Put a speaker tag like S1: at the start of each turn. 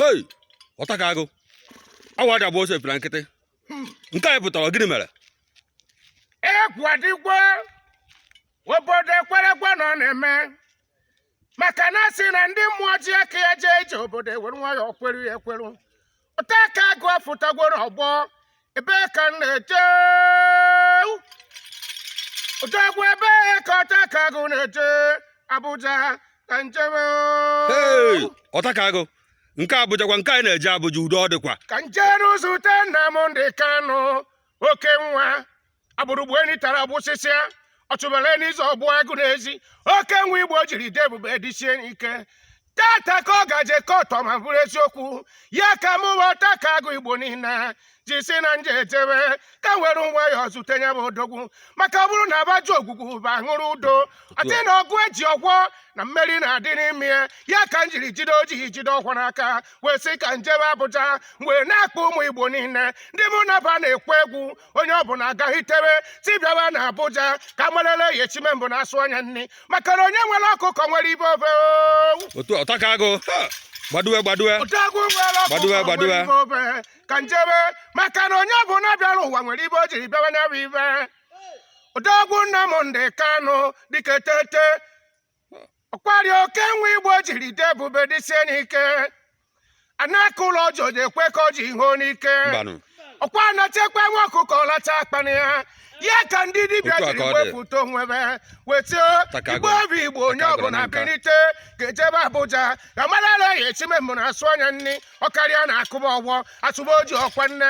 S1: hey Ọtakagụ awa dị abụọ ose pịra nkịtị nke a ị pụtara gịnị mere
S2: ekwadikwe obodo ekwerekwe na ọ na-eme maka na a sị na ndị mmụọ ji aka ya jee ije obodo ewere nwayọọ kweru ya ekweru Ọtakagụ afụtagworo ọgbọ ebee ka m na-eje odogwu ebee ka Ọtakagụ na-eje Abuja ka njebe
S1: Hey, Ọtakagụ nke Abuja kwa nke a ị na-eje Abuja udo ọ dịkwa ka njeru zute
S2: Nnamdị Kanụ oke nwa agbụrụgbu enyi tara agbụsịsịa ọchụbara enyi ịzọ ogbu agụ n'ezi oke nwa igbo jiri dị ebube dịsie ike tata ka ọ ga-eje kọọtụ ma bụrụ eziokwu ya ka mụ Ọtakagụ igbo niile ji sị na m je ejebe ka m were nwayọọ zute ya bụ odogwu maka ọ bụrụ na abaju ogwugwu bụ aṅụrụ udo ọ dị na ọgụ eji ọgwọ na mmeri na-adị n'ime ya ya ka m jiri jide oji jide ọkwa n'aka wee sị ka njebe abụja wee na-akpọ ụmụ igbo niile ndị mụ na ba na-ekwe egwu onye ọbụna agaghị tewe si bịawa na Abuja ka marele ya echime mbụ na asụ anya nri maka na onye nwere ọkụkọ nwere ibe ofe otu
S1: Ọtakagụ gbaduwe gbaduwe
S2: gbaduwe gbaduwe ka njebe maka na onye ọbụna bịara ụwa nwere ibe o jiri bịa ụwa nya bụ ibe odogwu Nnamdi Kanu dike tete ọkwari oke nwa igbo jiri dị ebube dịsie n'ike anaka ụlọ ọjọọ ji ekwe ka ọ ji ihe n'ike mbanụ ọkwa a na-echekwa nwa ọkụkọ ọ lachaa akpana ya ya ka ndị dibịa Otu a jiri ka ọ dị. wepụta onwe be wee tio Ọtakagụ. igbo obi igbo onye Ọtakagụ ọbụna na nka. binite ka e jebe abuja ka marala ya echime mbụ na asụ anya nri ọkarịa na akụba ọgbọ asụba oji ọkwa nne